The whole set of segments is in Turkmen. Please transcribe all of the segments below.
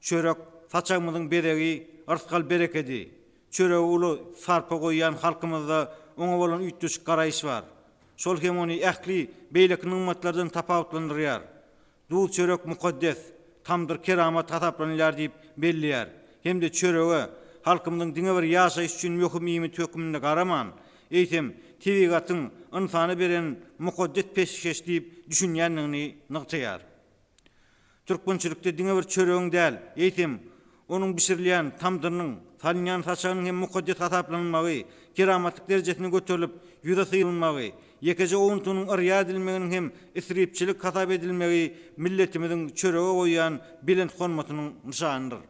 Çörek, saçagymyzyň bezegi, yrsgal-berekedi. Çörege uly sarpa goýýan halkymyzda oňa bolan üýtgeşik garaýyş bar. Şol hem ony ähli beýleki nygmatlardan tapawutlandyrýar. Duz-çörek mukaddes, tamdyr keramat hasaplanylýar diýip belleýär hem-de çörege halkymyzyň diňe bir ýaşaýyş üçin möhüm iýmit hökmünde garaman, eýsem, tebigatyň ynsana beren mukaddes peşgeş diýip düşünýändigini nygtaýar. Türkmençilikde diňe bir çöregiň däl, eýsem, onuň bişirilýän tamdyrynyň, salynýan saçagynyň hem mukaddes hasaplanylmagy, keramatlyk derejesine göterilip, ýüze syýylmagy, ýekeje owuntynyň yrýa edilmeginiň hem isripçilik hasap edilmegi milletimiziň çörege goýýan belent hormatynyň nyşanydyr.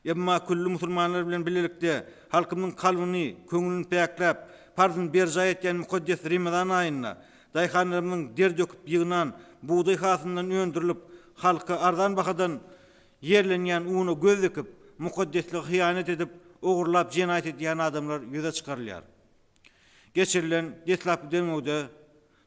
Emma külli musulmanlar bilen bilelikde halkymyň kalbyny, köňlüni päkläp, parzyny berjaý etýän mukaddes Remezan aýynda daýhanlarymyzyň der döküp ýygnan bugdaý hasylyndan öndürilip, halka arzan bahadan ýerlenýän una göz dikip, mukaddeslige hyýanat edip, ogurlap jenaýat edýän adamlar ýüze çykarylýar. Geçirilen deslapky derňewde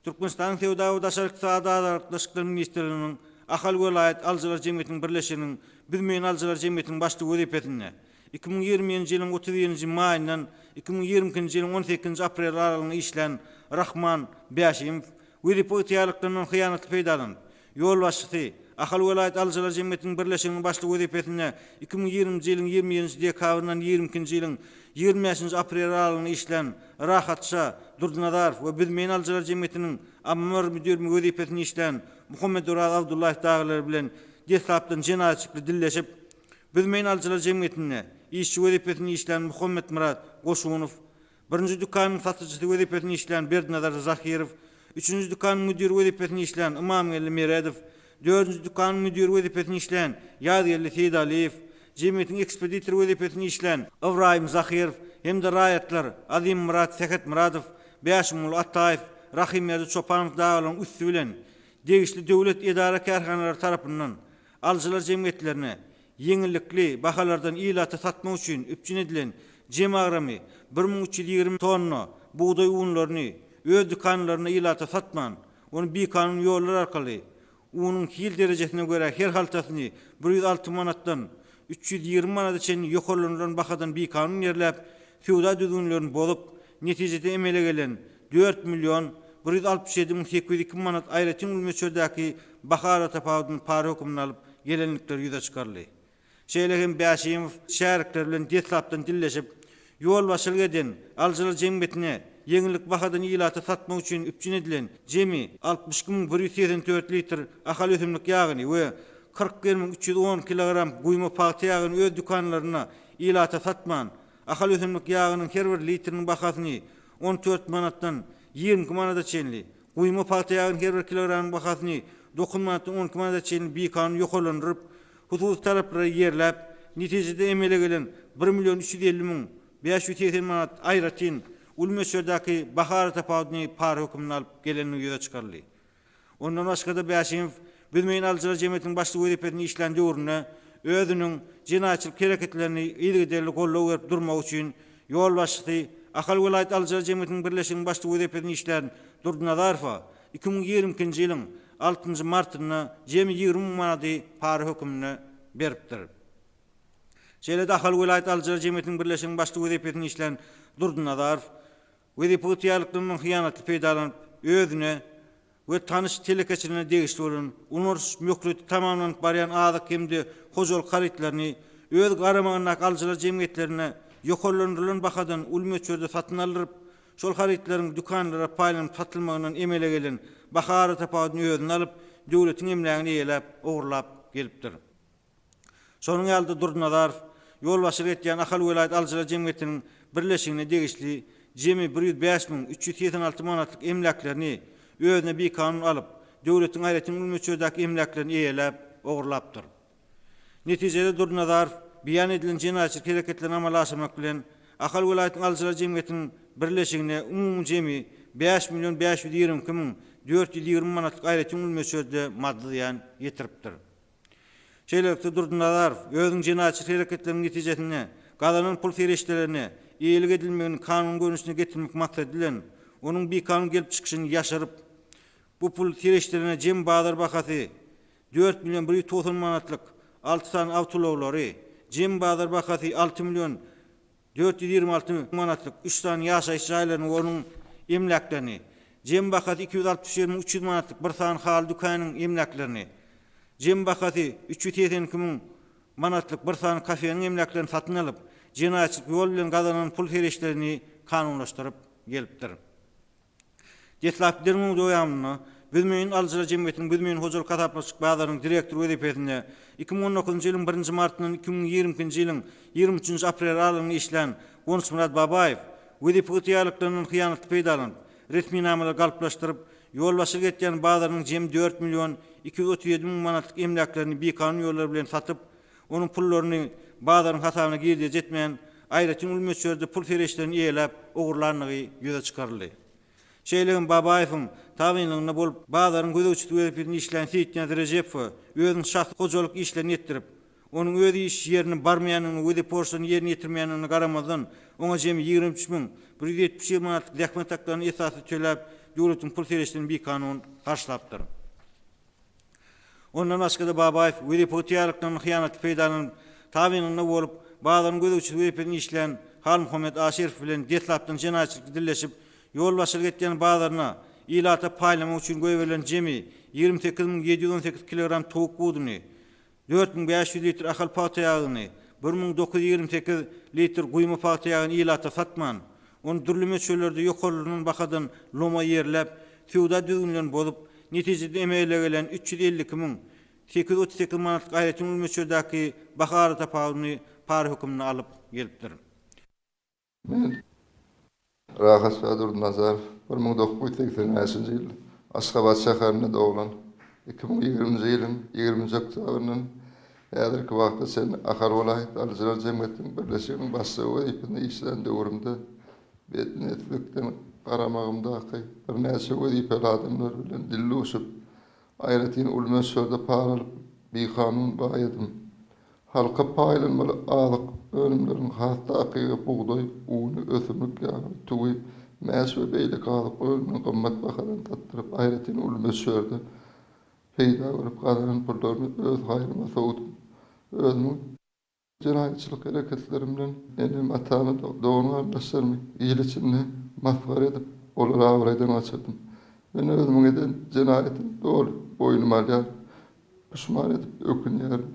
Türkmenistanyň Söwda we daşary ykdysady aragatnaşyklar ministrliginiň Ahal welaýat alyjylar jemgyýetiniň birleşiginiň Büzmeýin alyjylar jemgyýetiniň başlygy wezipesinde iki müň ýigrimi njy ýylyň otuz birinji maýyndan iki müň ýigrimi ikinji ýylyň on sekizinji apreli aralygynda işlän Rahman Bäşimow wezipe ygtyýarlyklaryndan hyýanatly peýdalanyp, ýolbaşçysy, Ahal welaýat alyjylar jemgyýetiniň birleşiginiň başlygy wezipesinde iki müň ýigriminji ýylyň ýigrimi ýedinji dekabryndan ýigrimi ikinji ýylyň ýigrimi bäşinji apreli aralygynda işlän Rahatja Durdynazarow we Büzmeýin alyjylar jemgyýetiniň Ammar müdirimi wezipesinde işlän Muhammeduraz Abdullaýew dagylar bilen deslapdan jenaýatçykly dilleşip, Büzmeýin alyjylar jemgyýetinde işçi wezipesinde işlän Muhammetmyrat Goşunow Birinji dükanyň satyjysy wezipesinde işleýän Berdinazar Zahirow, üçünji dükanyň müdiri wezipesinde işleýän Ymamgeldi Meredow, dördünji dükanyň müdiri wezipesinde işleýän Ýazgeldi Seýdaliýew, jemgyýetiň ekspeditory wezipesinde işleýän Ybraýym Zahirow hem-de raýatlar Azimmyrat Sähetmyradow, Bäşimguly Ataýew, Rahymberdi Çopanow dagalaryň üsti bilen degişli döwlet edara-kärhanalary tarapyndan Alyjylar jemgyýetlerine ýeňillikli bahalardan ilata satmak üçin üpjün edilen jem agramy bir müň üç ýüz ýigrimi tonna bugdaý unlaryny öz dükanlarynda ilata satman, ony bikanun ýollar arkaly unuň hil derejesine görä her haltasyny bir ýüz alty manatdan üç ýüz ýigrimi manada çenli ýokarlandyrylan bahadan bikanun ýerläp, söwda düzgünlerini bozup, netijede emele gelen dört million bir ýüz altmyş ýedi müň sekiz ýüz iki manat aýratyn gül möçberdäki baha aratapawudyny para hökmünde alyp gelendikleri ýüze çykaryldy. Şeýle hem Bäşimow şärikleri bilen deslapdan dilleşip, ýolbaşçylyk eden alyjylar jemgyýetine ýeňillik bahadan ilata satmak üçin üpjün edilen jemi altmyş iki müň bir ýüz segsen dört litr Ahal ösümlik ýagyny we kyrk bir müň üç ýüz on kilogram guýma pagta ýagyny öz dükanlarynda ilata satman, Ahal ösümlik ýagynyň her bir litriniň bahasyny on dört manatdan ýigrimi iki manada çenli, guýma pagta ýagynyň her bir kilogramynyň bahasyny dokuz manatdan on iki manada çenli bikanun ýokarlandyryp, hususy talaplary ýerläp, netijede emele gelen bir million üç ýüz elli müň bäş ýüz segsen manat aýratyn uly möçberdäki baha aratapawudyny para hökmünde alyp gelenligi ýüze çykaryldy. Ondan başga-da Bäşimow Büzmeýin alyjylar jemgyýetiniň başlygy wezipesinde işlän döwründe özüniň jenaýatçylyk hereketlerini yzygiderli goldaw berip durmagy üçin ýolbaşçysy, Ahal welaýat alyjylar jemgyýetiniň birleşiginiň başlygy wezipesinde işlän Durdynazarowa iki müň ýigrimi ikinji ýylyň altynjy martynda jemi ýigrimi müň manady para hökmünde beripdir. Şeýle-de Ahal welaýat alyjylar jemgyýetiniň birleşiginiň başlygy wezipesinde işlän Durdynazarow Wezipe ygtyýarlyklarynyň hyýanatly peýdalanyp, özüne we tanyş telekeçilerine degişli bolan, ulandyryş möhleti tamamlanyp barýan azyk hem-de hojalyk harytlaryny öz garamagyndaky alyjylar jemgyýetlerine ýokarlandyrylan bahadan uly möçberde satyn aldyryp, şol harytlaryň dükanlara paýlanyp satylmagyndan emele gelen baha aratapawudyny özüne alyp, döwletiň emlägini eýeläp, ogurlap gelipdir. Şonuň ýaly-da Durdynazarow ýolbaşçylyk edýän Ahal welaýat alyjylar jemgyýetiniň birleşigine degişli jemi bir ýüz bäş müň üç ýüz segsen alty manatlyk emläklerini özüne bikanun alyp, döwletiň aýratyn uly möçberdäki emläklerini eýeläp, ogurlapdyr. Netijede Durdynazarow beýan edilen jenaýatçylyk hereketlerini amala aşyrmak bilen, Ahal welaýatynyň alyjylar jemgyýetiniň birleşigine umumy jemi bäş million bäş ýüz ýigrimi iki müň dört ýüz ýigrimi manatlyk aýratyn uly möçberde maddy zyýan ýetiripdir. Şeýlelikde, Durdynazarow özüniň jenaýatçy hereketleriniň netijesinde gazanan pul serişdelerine eýelik edilmegini kanun görnüşine getirmek maksady bilen, onuň bikanun gelip çykyşyny ýaşyryp, bu pul serişdelerine jem bazar bahasy dört million bir ýüz togsan manatlyk alty sany awtoulaglary, jem bazar bahasy alty million Dört ýüz ýigrimi alty müň manatlyk üç sany ýaşaýyş jaýlaryny we onuň emläklerini, jemi bahasy iki ýüz altmyş ýedi müň üç ýüz manatlyk bir sany haly dükanynyň emläklerini, jemi bahasy üç ýüz segsen iki müň manatlyk bir sany kafeniň emläklerini satyn alyp, jenaýatçylyk ýol bilen gazanan pul-serişdelerini kanunlaşdyryp gelipdir. Deslapky derňewiň dowamynda Büzmeýin alyjylar jemgyýetiniň Büzmeýin hojalyk hasaplaşyk bazarynyň direktory wezipesinde iki müň on dokuzynjy ýylyň birinji martyndan iki müň ýigrimi ikinji ýylyň ýigrimi üçünji apreli aralygynda işlän Gonçmyrat Babaýew wezipe ygtyýarlyklaryndan hyýanatly peýdalanyp, resminamalary galplaşdyryp, ýolbaşçylyk etýän bazarynyň jemi dört million iki ýüz otuz ýedi müň manatlyk emläklerini bikanun ýollar bilen satyp, onuň pullaryny bazaryň hasabyna girdeji etmän, aýratyn uly möçberde pul serişdelerini eýeläp, ogurlandygy ýüze çykaryldy. Şeýle hem Babaýewiň tabynlygynda bolup, bazaryň gözegçisi wezipesinde işlän Seýitniýazy Rejepowa özüniň şahsy hojalyk işlerini etdirip, onuň öz iş ýerine barmaýandygyna we deporçlaryny ýerine ýetirmeýändigine garamazdan, oňa jemi ýigrimi üç müň bir ýüz ýetmiş bir manatlyk zähmet haklaryny esassyz töläp, döwletiň pul serişdelerini bikanun harçlapdyr. Ondan başga-da Babaýew wezipe ygtyýarlyklaryndan hyýanatly peýdalanyp, tabynynda bolup, bazaryň gözegçisi wezipesinde işleýän Halmuhammet Aşyrow bilen deslapdan jenaýatçylykly dilleşip, ýolbaşçylyk etýän bazaryna ilata paýlamak üçin goýberilen jemi ýigrimi sekiz müň ýedi ýüz on sekiz kilogram towuk buduny, dört müň bäş ýüz litr Ahal pagta ýagyny, bir müň dokuz ýüz ýigrimi sekiz litr guýma pagta ýagyny ilata satman, ony dürli möçberlerde ýokarlanan bahadan loma ýerläp, söwda düzgünlerini bozup, netijede emele gelen üç ýüz elli iki müň sekiz ýüz otuz sekiz manatlyk aýratyn uly möçberdäki baha aratapawudyny para hökmünde alyp gelipdir. Men, Rahatşa Durdynazarow, bir müň dokuz ýüz segsen bäşinji ýyl Aşgabat şäherinde doglan, iki müň ýigriminji ýylyň ýigriminji oktýabryndan häzirki wagta çenli Ahal welaýat alyjylar jemgyýetiniň birleşiginiň başlygy wezipesinde işlän döwrümde betniýetlilikden garamagymdaky birnäçe wezipäli adamlar bilen dilduşup, Aýratyn uly möçberde para alyp, bikanun baý edin. Halka paýlanmaly azyk önümleriniň has takygy bugdaý uny, ösümlik ýagy, tüwi, mäş we beýleki azyk önümini gymmat bahadan satdyryp, aýratyn uly möçberde peýda görüp gazanan pullaryny öz haýryňa sowdun. Özüniň. Bu jenaýatçylyk hereketlerim bilen enem, atamy, dogan-garyndaşlarymy il içinde masgara edip, olary abraýdan gaçyrdym. Men özümiň eden jenaýatymy doly boýnuma alýaryn. Puşman edip ökünýärin.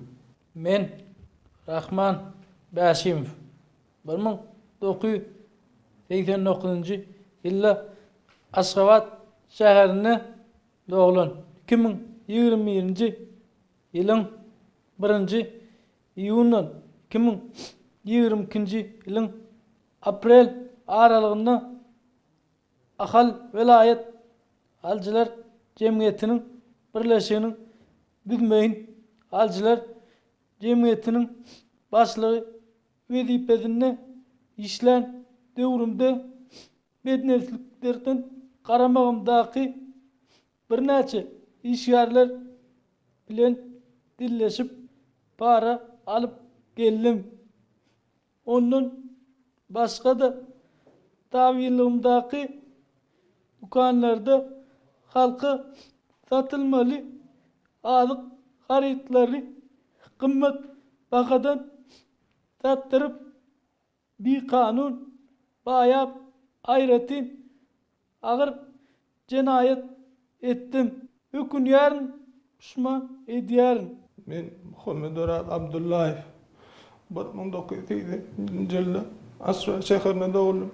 Men, Rahman Bäşimow. Bir müň dokuz ýüz segsen dokuzynjy ýylda Aşgabat şäherinde doglan. Iki müň ýigrimi birinji ýylyň birinji Iýundan iki müň ýigrimi ikinji ýylyň aprel aralygynda Ahal welaýat alyjylar jemgyýetiniň birleşiginiň Büzmeýin alyjylar jemgyýetiniň başlygy wezipesinde işlän döwrümde bädnepsliklerden garamagymdaky Birnäçe işgärler bilen dilleşip para alyp geldim. Ondan başga-da tabynlygymdaky dükanlarda halka satylmaly azyk harytlaryny gymmat bahadan satdyryp bikanun baýap aýratyn agyr jenaýat etdim. Ökünýärin, puşman edýärin. Men Muhammeduraz Abdullaýew. Bir müň dokuz ýüz segsen sekizinji ýylda Assuan şäherinde dogdum.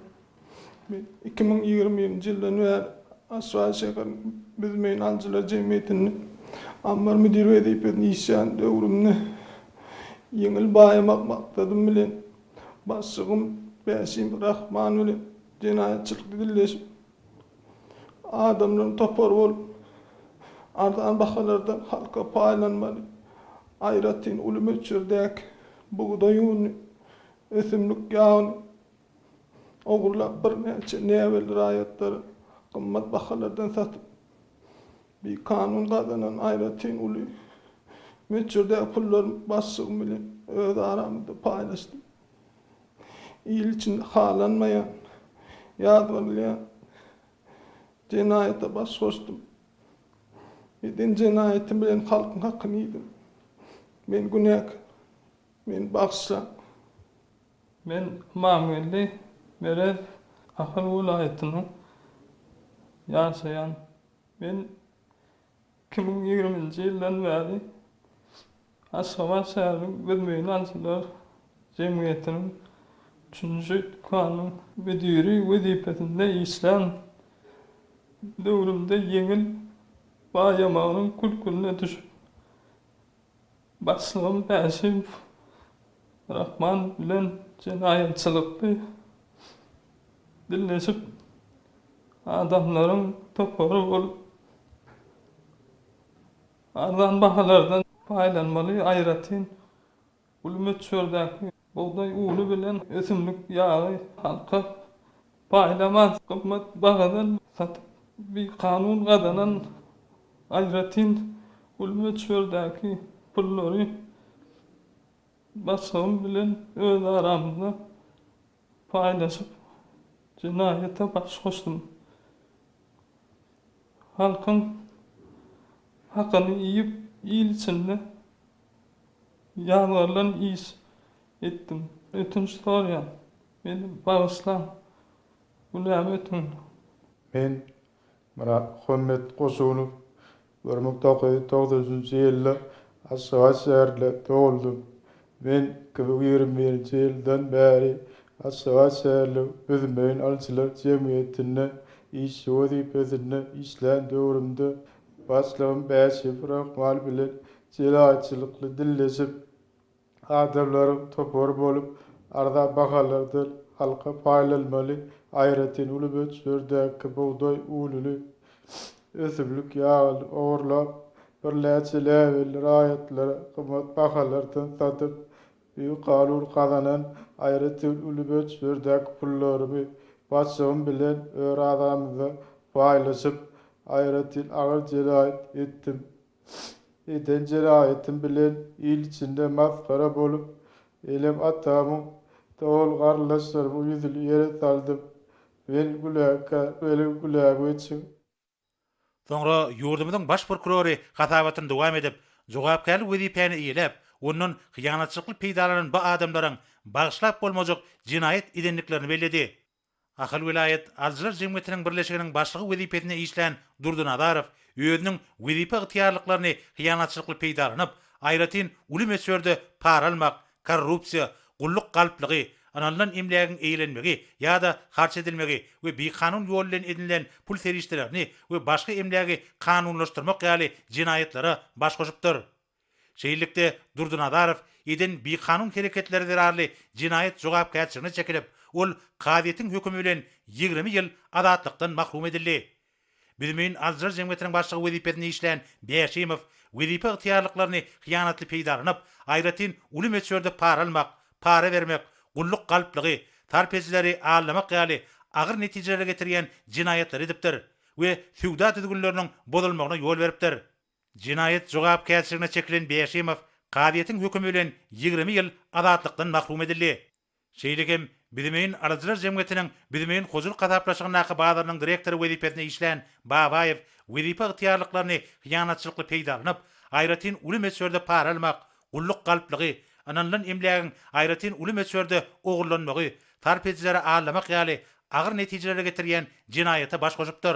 Men iki müň ýigrimi njy ýyldan bäri Aşgabat şäheriniň Büzmeýin alyjylar jemgyýetinde ammar müdiri wezipesinde işlän döwrümde ýeňil baýamak maksadym bilen başlygym Bäşim Rahman bilen jenaýatçylykda dilleşip, adamlaryň topary bolup, arzan bahalardan halka paýlanmaly, aýratyn uly möçberdäki bugdaý ununy, ösümlik ýagyny, Ogurlap birnäçe näbelli raýatlary gymmat bahalardan satyp, bikanun gazanan aýratyn uly möçberdäki pullarymy başlygym bilen öz aramyzda paýlaşdym. Il içinde halanmaýan, ýazgarylýan jenaýata baş goşdum. Eden jenaýatym bilen halkyň hakyny iýdim. Men günäkär. Meni bagyşlaň. Men Ymamgeldi Merez Ahal welaýatynyň ýaşaýan. Men iki müň ýigriminji ýyldan bäri Aşgabat şäheriniň Özmeýilanyçylar jemgyýetiniň üçünji dükanynyň müdiri wezipesinde işlän. Döwrümde ýeňil baýamagynyň kül-külüne düşüp, Başlygym Bäşiýew Rahman bilen jenaýatçylykly dilleşip, adamlaryň topary bolup, arzan bahalardan paýlanmaly, aýratyn uly möçberdäki. Bugdaý uny bilen ösümlik ýagy halka paýlamaz gymmat bahadan satyp, bikanun gazanan aýratyn uly möçberdäki pullary başgym bilen öz aramyzda paýlaşyp, jenaýata baş goşdum. Halkyň hakyny iýip, il içinde Ýazgarylan iş etdim. Ötünç sorýan. Meni bagyşlaň. Günämi ötüň. Men Myrat Muhammet Goşunow. Bir müň dokuz ýüz togsanjynjy ýylda Aşgabat şäherinde dogluldym. Men iki müň ýigrimi birinji ýyldan bäri Aşgabat şäheriniň Büzmeýin alyjylar jemgyýetinde işçi wezipesinde işlän döwrümde başlygym Bäşiýew Rahman bilen Jelaýatçylykly dilleşip, adamlaryň topary bolup, arzan bahalardan halka paýlanmaly aýratyn uly möçberdäki bugdaý ununy, ösümlik ýagyny ogurlap, birnäçe läbelli raýatlara gymmat bahalardan satyp, bikanun gazanan aýratyn uly möçberdäki pullarymy başygym bilen örazamyzda paýlaşyp, aýratyn agyr jelaýat etdim. eden jenaýatym bilen il içinde masgara bolup, enem atamyň, dogan-garyndaşlarymyň ýüzüni ýere saldym. Wel güläkä, weli gülägeçiň! Soňra ýurdumyzyň Baş prokurory hasabatyny dowam edip, jogapkärli wezipäni eýeläp, ondan hyýanatçylykly peýdalanan bu adamlaryň bagyşlap bolmajak jenaýat edendiklerini belledi. Ahal welaýat alyjylar jemgyýetiniň birleşiginiň başlygy wezipesinde işlän Durdy Nazarow özüniň wezipe ygtyýarlyklaryny hyýanatçylykly peýdalanyp, aýratyn uly möçberde para almak, korrupsiýa, gulluk galplygy, ynanylan emlägiň eýlenmegi ýa-da harç edilmegi we bikanun ýol bilen edinilen pul serişdelerini we başga emlägi kanunlaşdyrmak ýaly jenaýatlara baş goşupdyr. Şeýlelikde, Durdynazarow eden bikanun hereketleri zerarly jenaýat jogapkärçiligine çekilip, ol kazyýetiň hökümi bilen ýigrimi ýyl azatlykdan mahrum edildi. Büzmeýin alyjylar jemgyýetiniň başlygy wezipesinde işlän Bäşimow wezipe ygtyýarlyklaryny hyýanatly peýdalanyp, aýratyn uly möçberde para almak, para bermek, gulluk galplygy, sarp edijileri aldamak ýaly agyr netijelere getirýän jenaýatlary edipdir we söwda düzgünleriniň bozulmagyna ýol beripdir. Jenaýat jogapkärçiligine çekilen Bäşimow kazyýetiň hökümi bilen ýigrimi ýyl azatlykdan mahrum edildi. Şeýle hem Büzmeýin alyjylar jemgyýetiniň Büzmeýin hojalyk hasaplaşygyndaky bazarynyň direktory wezipesinde işlän Babaýew wezipe ygtyýarlyklaryny hyýanatçylykly peýdalanyp, aýratyn uly möçberde para almak, gulluk galplygy, ynanylan emlägiň aýratyn uly möçberde ogurlanmagy, sarp edijilere aldamak ýaly agyr netijelere getirýän jenaýata baş goşupdyr.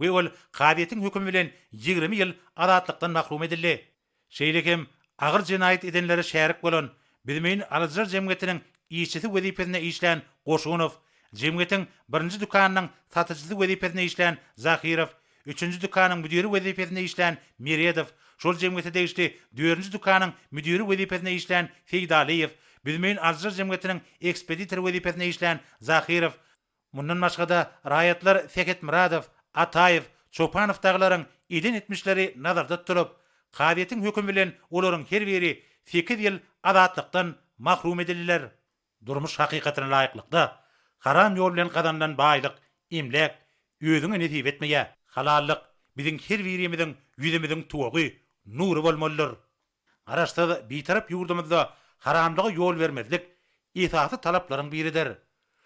we ol kazyýetiň hökümi bilen ýigrimi ýyl azatlykdan mahrum edildi. Şeýle hem agyr jenaýat edenlere şärik bolan Büzmeýin alyjylar jemgyýetiniň işçisi wezipesinde işlän Goşunow, jemgyýetiň birinji dükanynyň satyjysy wezipesinde işlän Zahirow, üçünji dükanyň müdiri wezipesinde işlän Meredow, şol jemgyýete degişli dördünji dükanyň müdiri wezipesinde işlän Seýdalyýew, Büzmeýin alyjylar jemgyýetiniň ekspeditory wezipesinde işlän Zahirow, Mundan başga-da, raýatlar Sähetmyradow, Ataýew, Çopanow dagylaryň eden etmişleri nazarda tutulyp, kazyýetiň hökümi bilen olaryň her biri sekiz ýyl azatlykdan mahrum edildiler. Durmuş hakykatyna laýyklykda, haram ýol bilen gazanylan baýlyk, emläk, özüňe nesip etmeýär. Halallyk, biziň her birimiziň ýüzümiziň tuwagy, nury bolmalydyr. Garaşsyz, Bitarap ýurdumyzda haramlyga ýol bermezlik esasy talaplaryň biridir.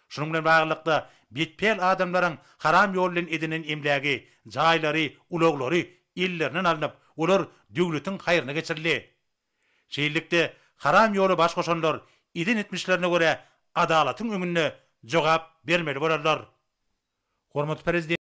Şunuň bilen baglylykda, betpäl adamlaryň haram ýol bilen edinen emlägi, jaýlary, ulaglary ellerinden alnyp, olar döwletiň haýryna geçirildi. Şeýlelikde, haram ýola baş goşanlar eden etmişlerine görä adalatyň öňünde jogap bermeli bolarlar. Hormatly Prezidentimiz